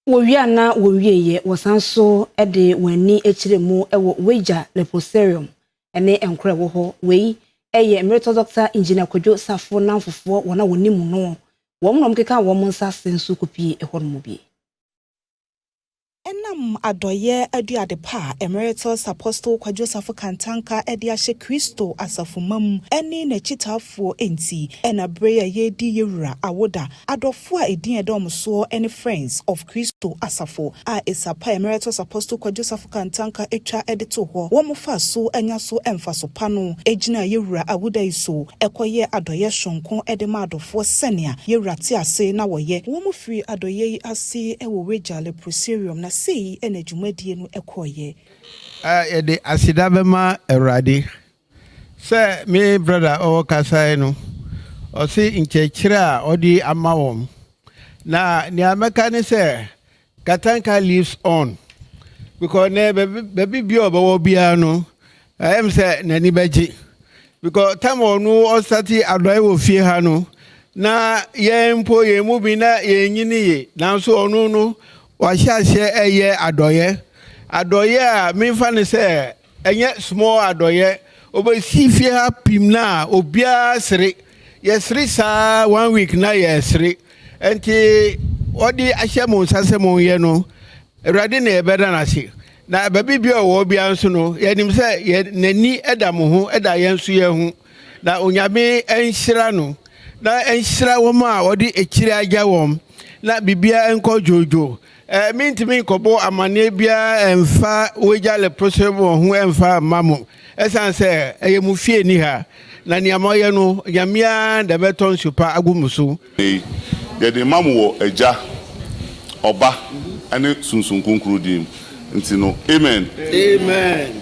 Wɔwie a na wɔnwieeɛ, wɔsan nso de wɔn ani kyerɛɛ mu wɔ Ueja Leprosarium ne nkoro a ɛwɔ hɔ. Wei yɛ mmeretɔ Dɔkta Engineer Kwadwo Sarfo nnamfofoɔ, wɔn a wɔnim noɔ, wɔn na wɔkekaa wɔn nsa ase nso kɔpuee ɛhɔnom bi. Ɛnam adɔeɛ aduade pa a Emeritus Apostle Kwadwo Sarfo Kantanka de ahyɛ Kristo asafomma mu ne n'akyitaafoɔ nti na berɛ yi a yɛredi yɛn wura awoda Adɔfo a edin a ɛdɔm soɔ ne Friends of Kristo Asafo a Esapa Emeritus Apostle Kwadwo Safo Kantanka twa de too hɔ. Wɔfaa so nya so mfaso pa no gyinaa Yɛwura Awuda yi so kɔyɛɛ adɔeɛ sononko de maa adɔfoɔ sɛnea Yɛwura te ase na wɔyɛ. Wɔfirii adɔeɛ yi ase wɔ Wagya Leprosarium na sei na dwumadie no kɔeɛ. Yɛde aseda bɛma Awurade Sɛ me brɔda a ɔkasae no, ɔse nkyerɛkyerɛ a ɔde ama wɔn. Na nea mɛka ne sɛ, Katanka lives on. Because nɛ baabi bi a ɔbɛwɔ biara no, ɛyɛ me sɛ n'ani bɛgye. Because tam a ɔno ɔsate adɔe wɔ fie ha no, na yɛn mpo yɛn mu bi na yɛnyini ye. Nanso ɔno no, wahyɛ aseɛ ɛyɛ adɔeɛ. Adɔeɛ a memfa ne sɛ Ɛnyɛ small adɔyɛ obesi fie ha pim na obiara sere yɛsere saa one week na yɛsere ɛnti ɔde ahyɛ mo nsa sɛ mo yɛ no awurade na yɛbɛda no ase na baabi bia ɔwɔ bia nso no yɛnim sɛ yɛ n'ani ɛda mo ho ɛda yɛn nso yɛn ho na onyame ɛnhyira no na ɛnhyira wɔn a ɔde akyire agya wɔn na bibia ɛnkɔ dwoodwoo Ɛ, mentumi nkɔbɔ amanneɛ biara mfa wagya leprosy wɔ ho mfa mma mo, ɛsiane sɛ ɛyɛ mo fie nni ha, na nea moayɛ no, Nyame ara na ɛbɛtɔ nsu pa agu mo so. Nnɛ yi, yɛde rema mo wɔ Agya, Ɔba, ne Sunsum Kronkron din mu. Nti no, amen. Amen.